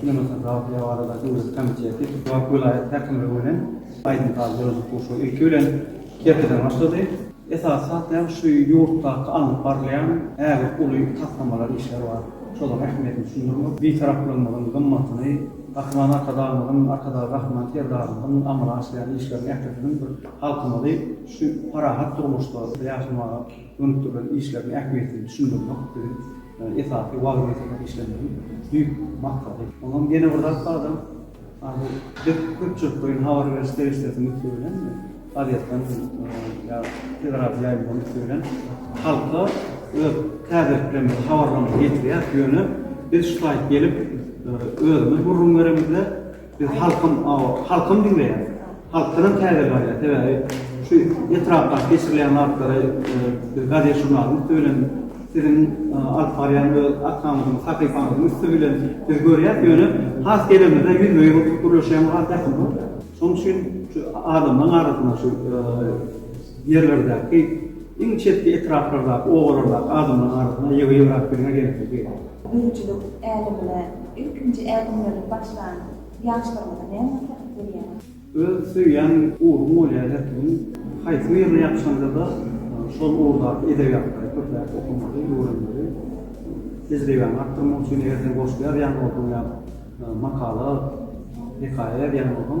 Kinematografiýa barada döwlet komiteti Tupak welaýat häkimligi bilen aýdym saz guraýjylyk gurşawy ilki bilen Kerkiden başlady. Esasy zat näme şu ýurtdaky alnyp barylýan ägirt uly taslamalar işler bar. Şolaryň ähmiýetini düşündirmek, Bitaraplygymyzyň gymmatyny, Gahryman Arkadagymyzyň, Arkadag Gahryman Serdarymyzyň amala aşyrýan işleriniň ählisiniň bir halkymyzy şu parahat durmuşda ýaşamaga, Gönükdirilen işleriň ähmiýetini düşündirmek biziň esasy wagyz-nesihat işlerimiziň düýp maksady. Oňam ýene bir zat bar-da, bu biz köpçülikleýin habar beriş serişdesiniň üsti bilen, gazetden ýa teleradiýo ýaýymlaryň üsti bilen halka öz täzeliklerimizi, habarlarymyzy ýetirýäris, ýöne biz şu taýyp gelip özümiz gürrüň beremizde, Biz halkym awa halkym diňleýär. Halk synam täze barýar. Sebäbi şu etrapdaky geçirilýän zatlary biz gazet žurnalyň üsti bilen siziň alyp barýan öz arkamyzyň sahypaňyzyň üsti bilen biz görýäs ýöne has gelemizde ýüzbe ýüz oturyp gürleşýämiz has ýakymly. Şonuň üçin şu adamlaryň arasynda şu ýerlerdäki, iň çetki etraplardaky obalardaky adamlaryň arasynda ýygy-ýygyrakbirgä gelmegi, Öýjülik älemine ilkinji ädimlerini başlan ýaşlarymyza näme maslahat berýäňiz? Öz söýýän ugruň bolýar her kimiň. Haýsy bir ýere ýapyşanda-da, şol ugurdaky edebiýatlary köpräk okamaly, öwrenmeli. Tejribäňi artdyrmak üçin, eger sen goşgy ýazýan bolsaň ýa makala, hekaýa ýazýan bolsaň,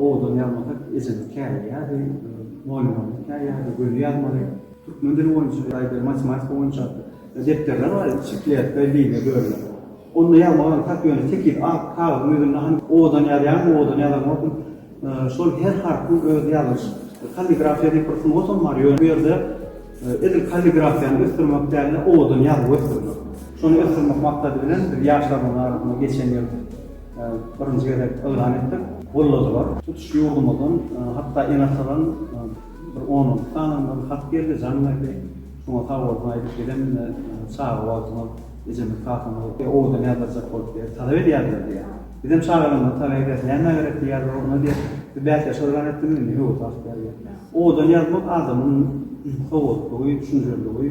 Owadan ýazmasak ejemiz käýýärdi, mugallymam käýýärdi, göni ýazmaly. Türkmen dili boýunça ýa-da matematika boýunça depderler bar idi, çikletka diýilýär bölüme. Onda ýazmak aňsat, ýöne tekiz ak kagyzyň ýüzünde hany owadan ýazýarmy, owadan ýazamokmy, şol her harpyň öz ýazylyş, kalligrafiýa diýip bir sungatam bar, ýöne bu ýerde edil kalligrafiýany ösdürmek däl-de, owadan ýazyby ösdürmek. Şony ösdürmek maksady bilen biz ýaşlarymyzyň arasynda geçen ýyl birinji gezek yglan etdik. Golladylar. Tutuş ýurdumyzdan hatda ene-atadan bir on-on sany hat geldi, jaň berdi. Şoňa sag bolsun aýdyp bizem çaga wagtymyz ejemiz, kakamyz owadan ýazdyrjak bolup diýýär, talap edýärler diýýär. Bizem çagalarymyza talap edýäris, nämä gerek diýýärler onda diýýär. Siz bäsdeş yglan etdiňiz indi ýok wagt diýýär. Owadan ýazmak adamyň sowatlygy, düşünjeliligi,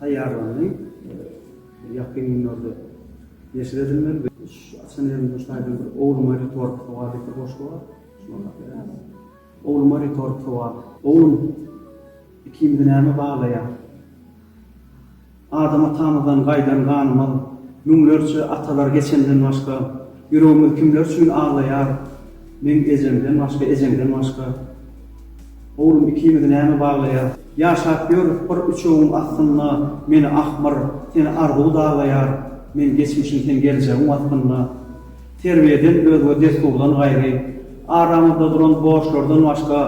taýýarlandy. Ýakyn günlerde neşir edilmeli. Şu açan ýerimde şu taýdan bir Ogluma ritorik sowal diýip bir goşgy bar. Şuny okap berermiň? Ogluma ritorik sowal. Oglum, ikimizi näme baglaýar? Adam atamyzdan gaýdan ganymyz, müňlerçe atalar geçenden başga. Ýüregimiz kimler üçin aglaýar Meň ejemden başga ejeňden başga Oglum ikimizi näme baglaýar Ýaşap ýörüs bir üçegiň astynda Meni ahmyr seni arzuw daglaýar Men geçmişim sen geljegiň waspynda Terbiýeden özge dessurdan gaýry Aramyzda duran borçlardan başga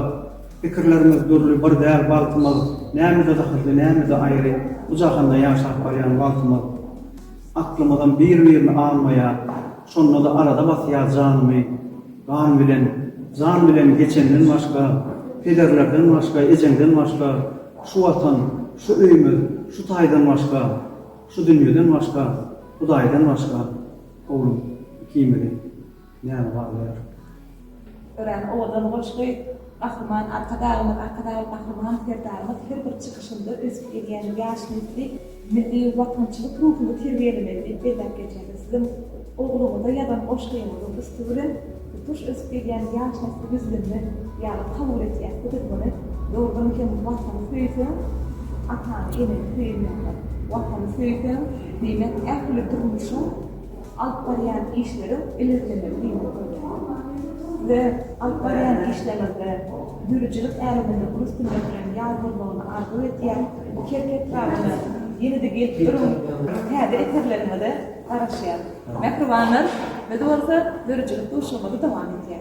Pikirlerimiz dürli bir däl bagtymyz Nämede zahyrly nämede aýry Bu jahanda ýaşap barýan wagtymyz. Aklymyzam bir birini almaýar şondada arada basýar janymy gan bilen jan bilen geçenden başga pederlerden başga ejeňden başga şu watan şu öýmüz şu taýdan başga şu dünýeden başga hudaýdan başga oglum ikimizi Näme barlar? Örän owadan goşgy. Gahryman Arkadagymyz, Arkadagly Gahryman Serdarymyz her bir çykyşynda ösüp gelýän ýaş nesli milli watançylyk ruhuny terbiýelemeli diýip belläp geçýärdi. Siziň ogluňyza ýazan goşgyňyzyň üsti bilen tutuş ösüp gelýän ýaş nesli ýüzlenmek ýaly kabul edýäs. Bu dogany dogrudan hem Watany söýseň, atany, eneni söýen ýaly. Watany söýseň, diýmek ähli durmuşyň. alyp barýan işleriň ilerlemegini ýola goýmaga we alyp barýan işleriňizde döredijilik äleminde uly üstünlik bilen ýar bolmagyny arzuw edýän bu kerki etrabyna ýene-de gelip duruň täze eserleriňize garaşýas mähribanlar biz bolsa döredijilik duşuşygymyzy dowam etýäs.